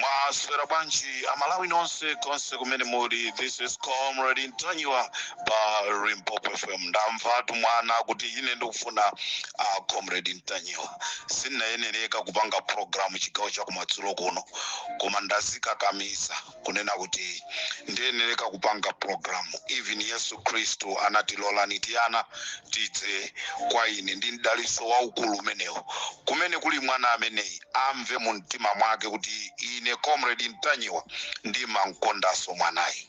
mwaswera bwanji amalawi nonse konse kumene muli this is comrade ntanyiwa pa limpopo fm ndamvatu mwana kuti ine ndikufuna uh, comrade ntanyiwa sinayenereka kupanga programu chigawo chakumadzulo kuno koma ndazikakamiza kunena kuti ndiyenereka kupanga programu even yesu khristu anati lolani tiana tidze kwa ine ndi mdaliso waukulu umenewo kumene kuli mwana ameneyi amve mu mtima mwake kuti ine comrade ntanyiwa ndimamkondanso mwanayi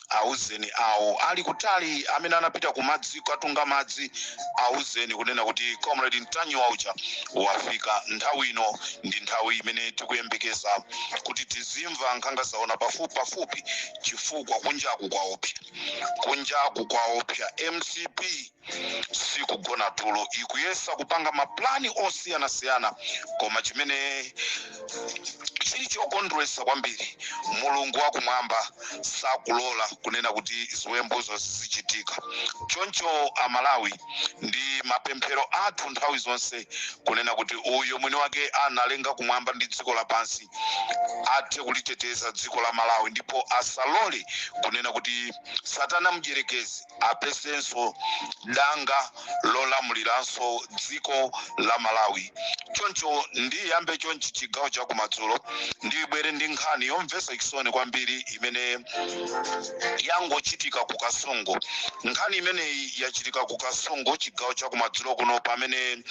Auzeni awo ali kutali amene anapita kumadzi kukatunga madzi, auzeni kunena kuti Comrade Ntanyiwa uja wafika. Nthawi ino ndi nthawi imene tikuyembekeza kuti tizimva nkhanga zaona pafupipafupi chifukwa kunjaku kwaopsa. Kunjaku kwaopsa. Mcp. sikugona tulo ikuyesa kupanga maplani osiyanasiyana koma chimene chili chokondwetsa kwambiri mulungu wakumwamba sakulola kunena kuti ziwembuzo zizichitika choncho amalawi ndi mapemphero athu nthawi zonse kunena kuti uyo mwini wake analenga kumwamba ndi dziko lapansi athe kuliteteza dziko la malawi ndipo asalole kunena kuti satana mdyerekezi apezenso danga lolamuliranso dziko la malawi choncho ndiyambe chonchi chigawo chakumadzulo ndibwere ndi nkhani yomvetsa chisoni kwambiri imene yangochitika ku kasungu nkhani imeneyi yachitika ku kasungu chigawo chakumadzulo kuno pamene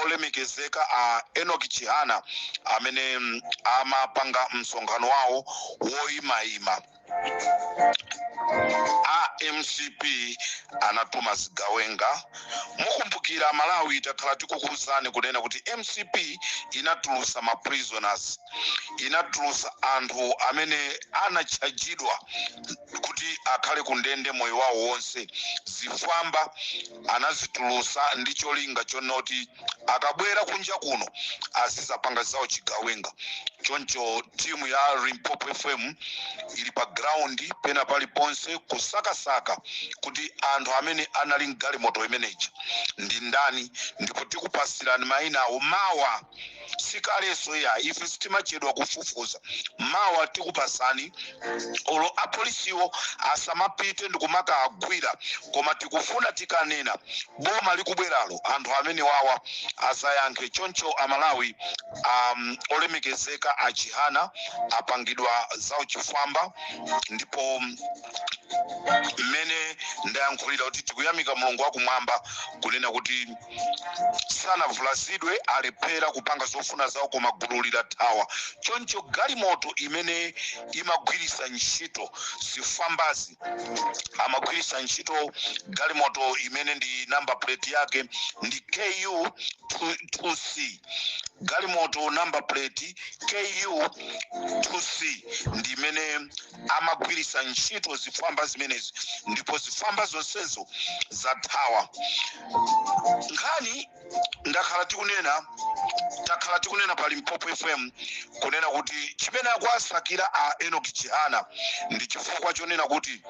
olemekezeka a enoch chihana amene mm, amapanga msonkhano wawo woyimayima a mcp anatuma zigawenga mukumbukira amalawi takhala tikukuuzani kunena kuti mcp inatulusa ma prisoners inatulusa anthu amene anatchajidwa kuti akhale kundende moyo wawo wonse zifwamba anazitulusa ndi cholinga chonoti akabwera kunja kuno azizapanga zauchigawenga choncho timu ya limpopo fm ili pa ground pena paliponse kusakasaka kuti anthu amene anali mgalimoto imeneja ndi ndani ndipo tikupatsirani mayina awo mawa sikalenso iyayi ife sitimachedwa kufufuza mawa tikupatsani olo apolisiwo asamapite ndikumakaagwira koma tikufuna tikanena boma likubweralo anthu amenewawa azayankhe choncho amalawi um, olemekezeka achihana apangidwa za uchifwamba ndipo mmene ndayankhulira kuti tikuyamika mulungu wakumwamba kunena kuti sanavulazidwe alephera kupanga zofuna zawo koma gululi lathawa choncho galimoto imene imagwiritsa ntchito zifwambazi amagwiritsa ntchito galimoto imene number plate yake ndi ku 2c galimoto number plate ku 2c ndi imene amagwiritsa ntchito zifwamba zimenezi ndipo zifwamba zonsezo zathawa nkhani ndakhala tikunena takhala tikunena pa limpopo fm kunena kuti chimene akuwasakira a enock chihana ndi chifukwa chonena kuti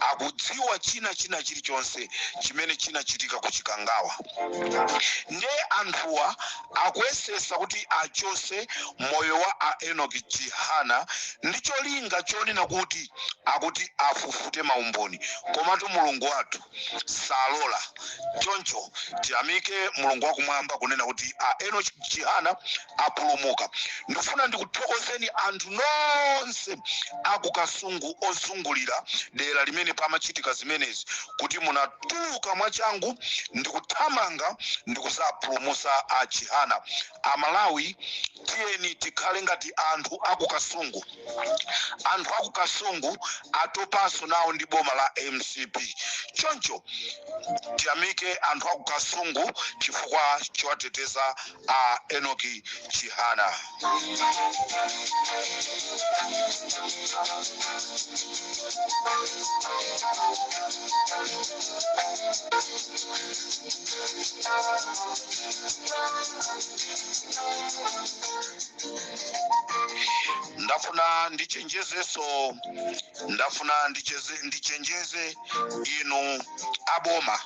akudziwa china china chilichonse chimene chinachitika ku chikangawa nde anthuwa akuyesesa kuti achose moyo wa a enock chihana ndi cholinga chonena kuti akuti afufute maumboni komatu mulungu wathu salola choncho tiyamike mulungu wakumwamba kunena kuti a enock chihana apulumuka. Ndifuna ndikuthokozeni anthu nonse aku Kasungu ozungulira dera limene pamachitika zimenezi kuti munatuluka mwachangu ndikuthamanga ndikuzapulumusa a Chihana. Amalawi tiyeni tikhale ngati anthu aku Kasungu. Anthu aku Kasungu atopanso nawo ndi boma la mcp. Choncho tiyamike anthu aku Kasungu chifukwa chowateteza a Enock Chihana. ndafuna ndichenjezeso ndafuna ndicheze- ndichenjeze inu aboma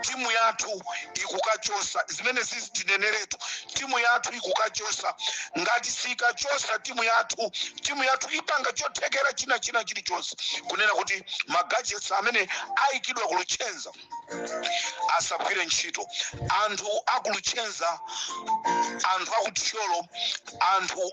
timu yathu ikukachosa zimenezi tineneretu timu yathu ikukachosa ngati sikachosa timu yathu timu yathu ipanga chothekera china china chilichonse kunena kuti magajets amene ayikidwa ku luchenza asagwire ntchito anthu aku luchenza anthu aku thyolo anthu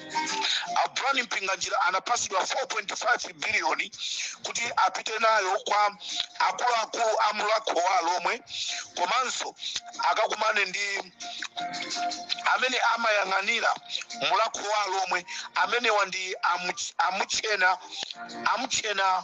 a Brown Mpinganjira anapatsidwa 4.5 biliyoni kuti apite nayo kwa akuluakulu a Mulhako wa Alomwe komanso akakumane ndi amene amayang'anira Mulhako wa Alomwe amenewa ndi amuch- amutchena amutchena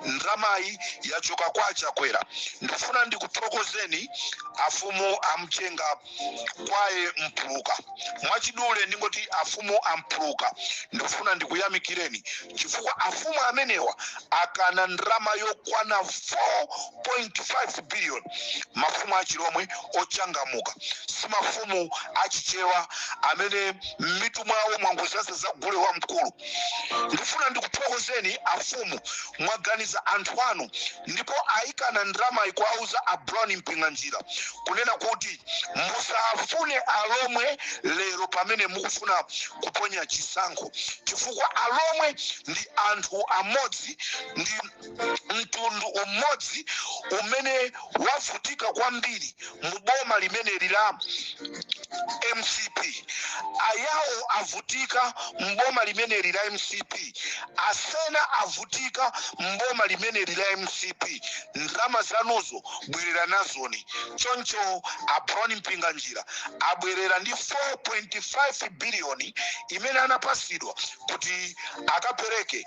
Ndalamayi yachoka kwa achakwera ndifuna ndikuthokozeni afumu amchenga kwaye mpuluka mwachidule ndingoti afumu ampuluka ndifuna ndikuyamikireni chifukwa afumu amenewa akana ndalama yokwana 4.5 billion mafumu achilomwe ochangamuka si mafumu achichewa amene m'mitu mwawo mwangozaza za gule wamkulu Ndifuna ndikuthokozeni afumu mwaganiza anthu anu ndipo ayikana ndalamayi kuwauza a Brown Mpinganjira kunena kuti musafune alomwe lero pamene mukufuna kuponya chisankho chifukwa alomwe ndi anthu amodzi ndi mtundu umodzi umene wavutika kwambiri mu boma limeneli la mcp ayawo avutika mboma limeneli la mcp asena avutika mboma limeneli la mcp ndalama zanuzo bwerera nazoni choncho a Brown Mpinganjira abwerera ndi 4.5 biliyoni imene anapasidwa kuti akapereke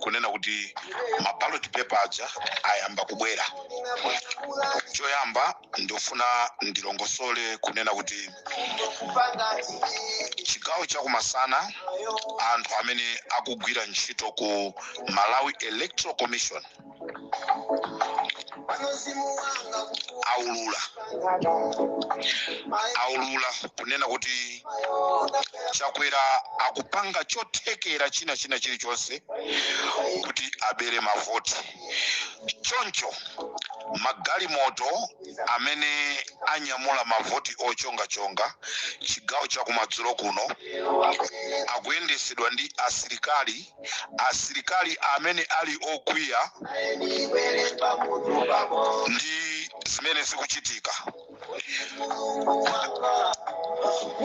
kunena kuti ma ballot paper aja ayamba kubwera choyamba ndifuna ndilongosole kunena kuti chigawo chakum'masana anthu amene akugwira ntchito ku malawi electoral commission aulula aulula kunena kuti chakwera akupanga chothekera china china chilichonse kuti abere mavoti choncho magalimoto amene anyamula mavoti ochongachonga chigawo chakumadzulo kuno akuyendesedwa ndi asilikali asilikali amene ali okwiya ndi zimene zikuchitika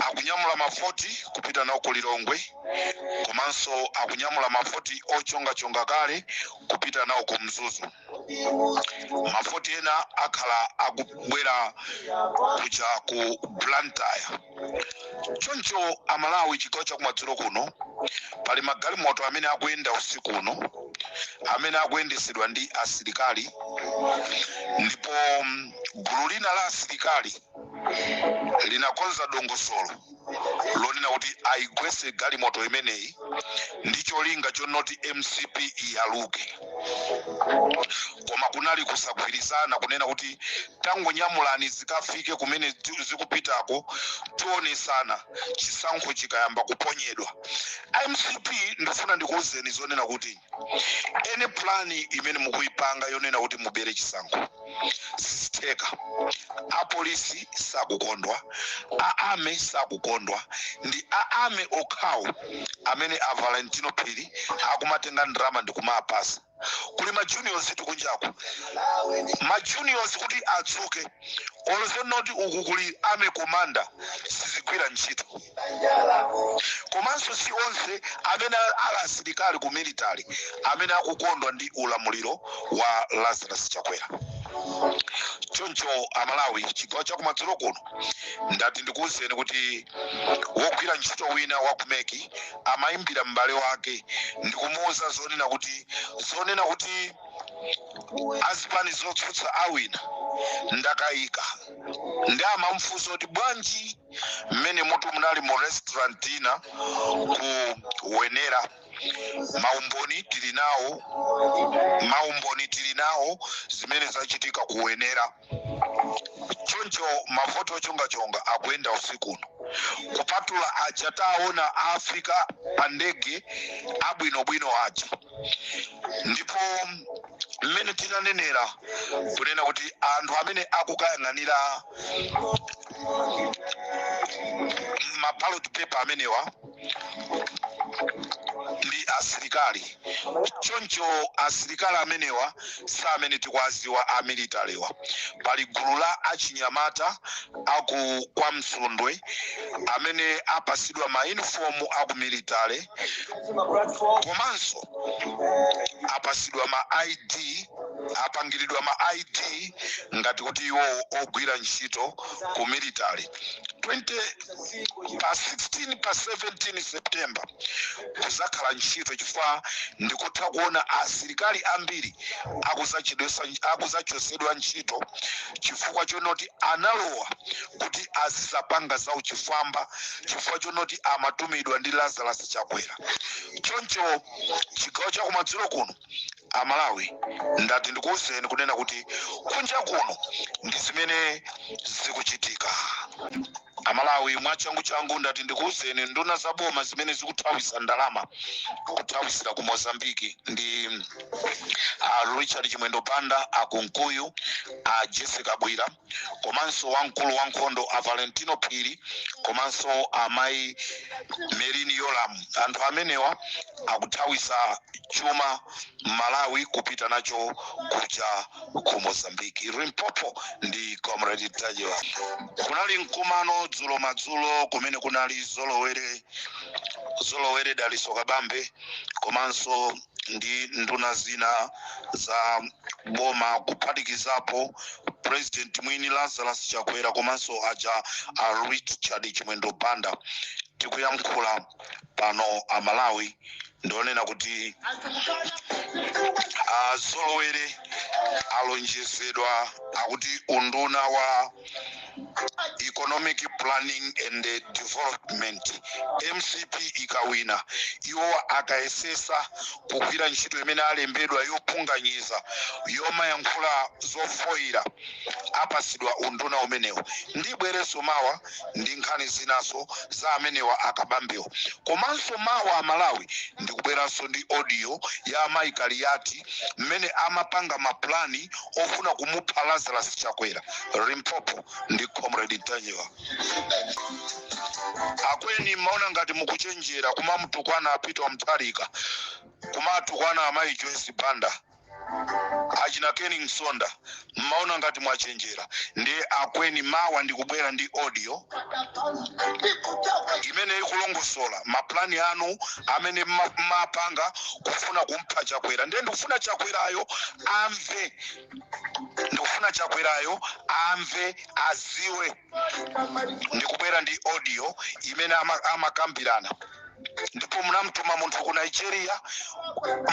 akunyamula mavoti kupita nawo ku lilongwe komanso akunyamula mavoti ochongachonga kale kupita nawo ku mzuzu mavoti ena akhala akubwera kuja ku blantyre choncho amalawi chigawo chakumadzulo kuno pali magalimoto amene akuyenda usiku uno amene akuyendesedwa ndi asilikali ndipo mm, gulu lina la asilikali linakonza dongosolo lonena kuti ayigwese galimoto imeneyi ndi cholinga chonoti mcp iyaluke koma kunali kusagwirizana kunena kuti tangonyamulani zikafike kumene zi- zikupitako tionesana chisankho chikayamba kuponyedwa mcp ndifuna ndikuwuzeni zonena kuti ene plani imene mukuyipanga yonena kuti mubere chisankho sizitheka apolisi sakukondwa a army sakukondwa ndi a army okhawo amene a valentino phiri akumatenga ndalama ndi kumapasa kuli ma juniors tikunjaku ma juniors kuti adzuke olo zonoti uku kuli army commander sizigwira ntchito komanso si onse amene ali asilikali ku military amene akukondwa ndi ulamuliro wa lazarus chakwera choncho amalawi chigawo chakumadzulo kuno ndati ndikuwuzeni kuti wogwira ntchito wina wa ku mec amayimbira m'bale wake ndikumuwuza zonena kuti zonena kuti azipani zotsutsa awina ndakayika ndiye amamfunsa kuti bwanji mmene umo tu munali mu restaurant ina ku wenera maumboni tili nawo maumboni tili nawo zimene zachitika ku wenera choncho mavoti ochongachonga akuyenda usiku uno kupatula aja taona afika pa ndege abwinobwino aja ndipo mmene tinanenera kunena kuti anthu amene akukayang'anira maballot paper amenewa ndi asilikali choncho asilikali amenewa si amene tikuwaziwa a militarywa pali gulu la achinyamata aku kwa msundwe amene apasidwa ma uniform aku military komanso apasidwa ma id apangiridwa ma id ngati kuti iwo ogwira ntchito ku military pa 16 pa 17 september kuzakhala ntchito chifukwa ndikutha kuona asilikali ambiri akuzachosedwa ntchito chifukwa chonoti analowa kuti azizapanga za uchifwamba chifukwa chonoti amatumidwa ndi lazarus chakwera choncho chigawo chakumadzulo kuno amalawi ndati ndikuwuzeni kunena kuti kunja kuno ndi zimene zikuchitika amalawi mwachanguchangu ndati ndikuwuzeni nduna za boma zimene zikuthawisa ndalama kuthawisira ku mozambiki ndi a richard chimwendo banda a kunkuyu a jessie kabwila komanso wamkulu wa nkhondo a valentino phiri komanso amayi merlyne yolamu anthu amenewa akuthawisa chuma m'malawi kupita nacho kuja ku mozambique limpopo ndi comrade ntanyiwa kunali mkumano dzulo madzulo kumene kunali zolowere zolowere daliso kabambe komanso ndi nduna zina za boma kuphatikizapo president mwini lazarus chakwera komanso aja a richard chimwendo banda tikuyankhula pano amalawi ndionena kuti azolowere alonjezedwa akuti unduna wa economic planning and eh, development mcp ikawina iwo akayesesa kugwira ntchito imene alembedwa yopunganyiza yomayankhula zofoyira apasidwa unduna umenewo ndibwereso mawa ndi nkhani zinaso za amenewa a kabambewa komanso mawa amalawi ndikubweranso ndi audio ya amayi kaliati mmene amapanga mapulani ofuna kumupha lazarus chakwera limpopo ndi comrade ntanyiwa akweni mmaona ngati mukuchenjera kumamutukwana a peter mutharika kumatukwana amayi joyce banda achina ken msonda mmaona ngati mwachenjera ndiye akweni mawa ndikubwera ndi audio imene ikulongosola mapulani anu amene mma- mmapanga kufuna kumpha chakwera ndiye ndikufuna chakwerayo amve ndikufuna chakwerayo amve aziwe ndikubwera ndi audio imene ama- amakambirana ndipo munamtuma munthu ku nigeria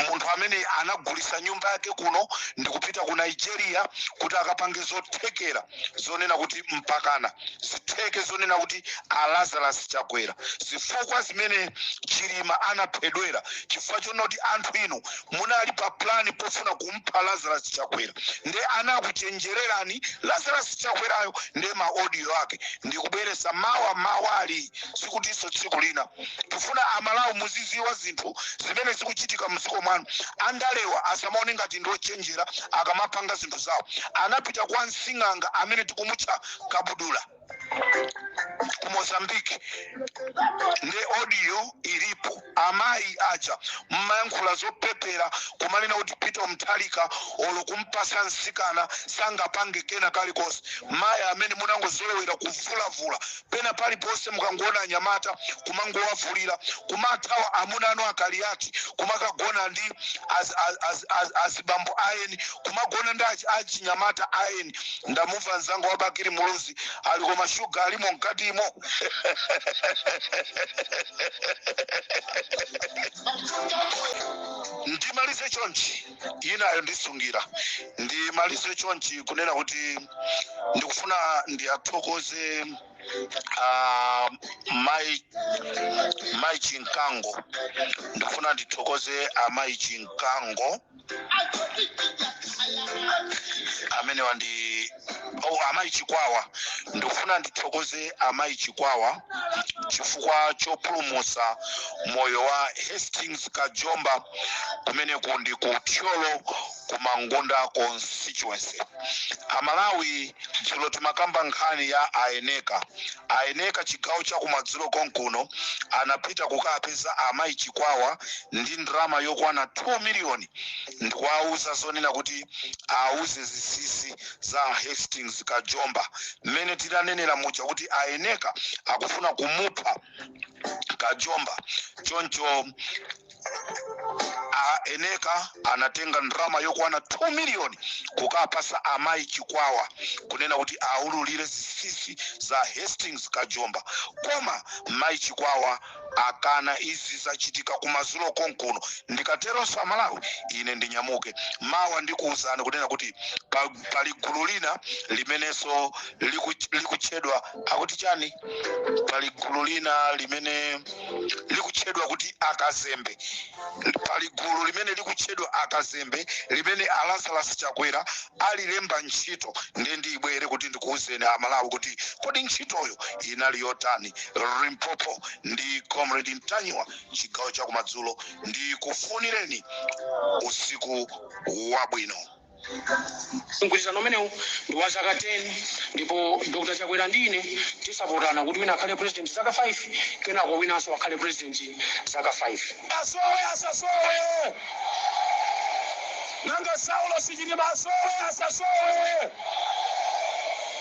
munthu amene anagulisa nyumba yake kuno ndikupita ku nigeria kuti akapange zothekera zonena kuti mpakana zitheke zonena kuti a lazarus chakwera zifukwa zimene chilima anaphedwera chifukwa chonena kuti anthu inu munali pa plan pofuna kumpha lazarus chakwera nde anakuchenjererani lazarus chakwerayo nde ma audio ake ndikubweresa mawa mawali sikutinso tsiku lina tifuna amalawi muziziwa zinthu zimene zikuchitika mdziko mwanu andalewa asamaone ngati ndiochenjera akamapanga zinthu zawo anapita kwa nsing'anga amene tikumutcha kabudula ku mozambique nde audio ilipo amayi aja mmayankhula zopepera kumanena kuti peter mutharika olo kumpasa msikana sangapange kena kalikonse mayi amene munangozolowera kuvulavula pena paliponse mukangoona anyamata kumangowavulira kumathawa amuna anu a kaliati kumakagona ndi az- az- az- az- azibambo ayeni kumagona ndi achi- achinyamata ayeni ndamumva mzanga wa bakiri muluzi ali koma mashuga alimo mkatimo ndimalize chonchi inayo ndisungira ndimalize chonchi kunena kuti ndikufuna ndiyathokoze uh, mai mai chinkango ndikufuna ndithokoze amayi chinkango amenewa ndi oh, amayi chikwawa ndikufuna ndithokoze amayi chikwawa chifukwa chopulumutsa moyo wa hastings kajomba kumeneku ndi ku thyolo ku mangunda constituency amalawi dzulo timakamba nkhani ya a eneka A Eneka chigawo chakumadzulo konkuno anapita kukawapeza a Mayi Chikwawa ndi ndalama yokwana 2 million ndikuwauza zonena kuti awauze zinsisi za a Hastings Kajomba mmene tinanenera muja kuti a Eneka akufuna kumupha Kajomba choncho a eneka anatenga ndalama yokwana 2 miliyoni kukapasa amayi chikwawa kunena kuti aululire zisisi za hastings kajomba koma mayi chikwawa akana izi zachitika kumadzulo konkuno ndikateronso amalawi ine ndinyamuke mawa ndikuwuzani kunena kuti pa- pali gulu lina limenenso liku- likutchedwa akuti chani pali gulu lina limene likutchedwa kuti akazembe pali gulu limene likutchedwa akazembe limene a lazarus chakwera alilemba ntchito ndiye ndiyibwere kuti ndikuwuzeni amalawi kuti kodi ntchitoyo inali yotani limpopo ndi comrade ntanyiwa chigawo chakumadzulo ndikufunireni usiku wabwino Mgwirizano umenewu ndi wa zaka 10 ndipo Dr Chakwera ndi ine tidzapotana kuti wina akhale President zaka 5 kenako winanso akhale President zaka 5. Asowe asasowe! Nanga Saulosi Chilima asowe asasowe?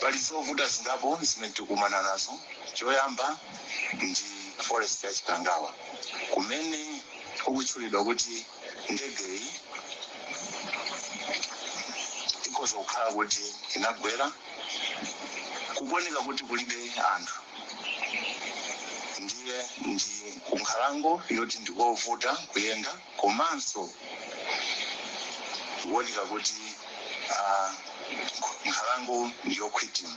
pali zovuta zingapo zimene tikumana nazo choyamba ndi forest ya chikangawa kumene kukutchulidwa kuti ndegeyi ikhoza kukhala kuti inagwera kukuoneka kuti kulibe anthu ndiye ndi kunkhalango yoti ndikovuta kuyenda komanso kuoneka kuti ah, nkhalango ndiyokhwitima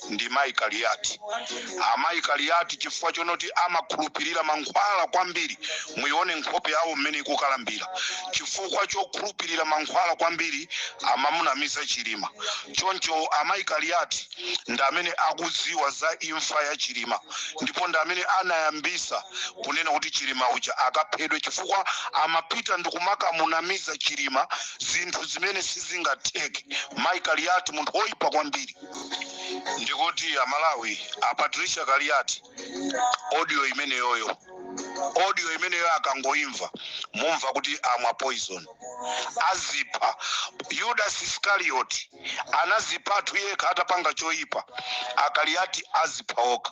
ndi mayi Kaliati. Amayi Kaliati chifukwa chonoti amakhulupirira mankhwala kwambiri, muione nkhope yawo mmene ikukalambira. Chifukwa chokhulupirira mankhwala kwambiri amamunamiza Chilima. Choncho amayi Kaliati ndi amene akudziwa za imfa ya Chilima ndipo ndi amene anayambisa kunena kuti Chilima uja akaphedwe chifukwa amapita ndikumakamunamiza Chilima zinthu zimene sizingatheke. Mayi Kaliati munthu woipa kwambiri. ndikuti amalawi a patricia kaliati audio imeneyoyo audio imeneyoyo akangoimva mumva kuti amwa poison azipha yudas iskarioti anazipatu yekha atapanga choyipa akaliati azipha okha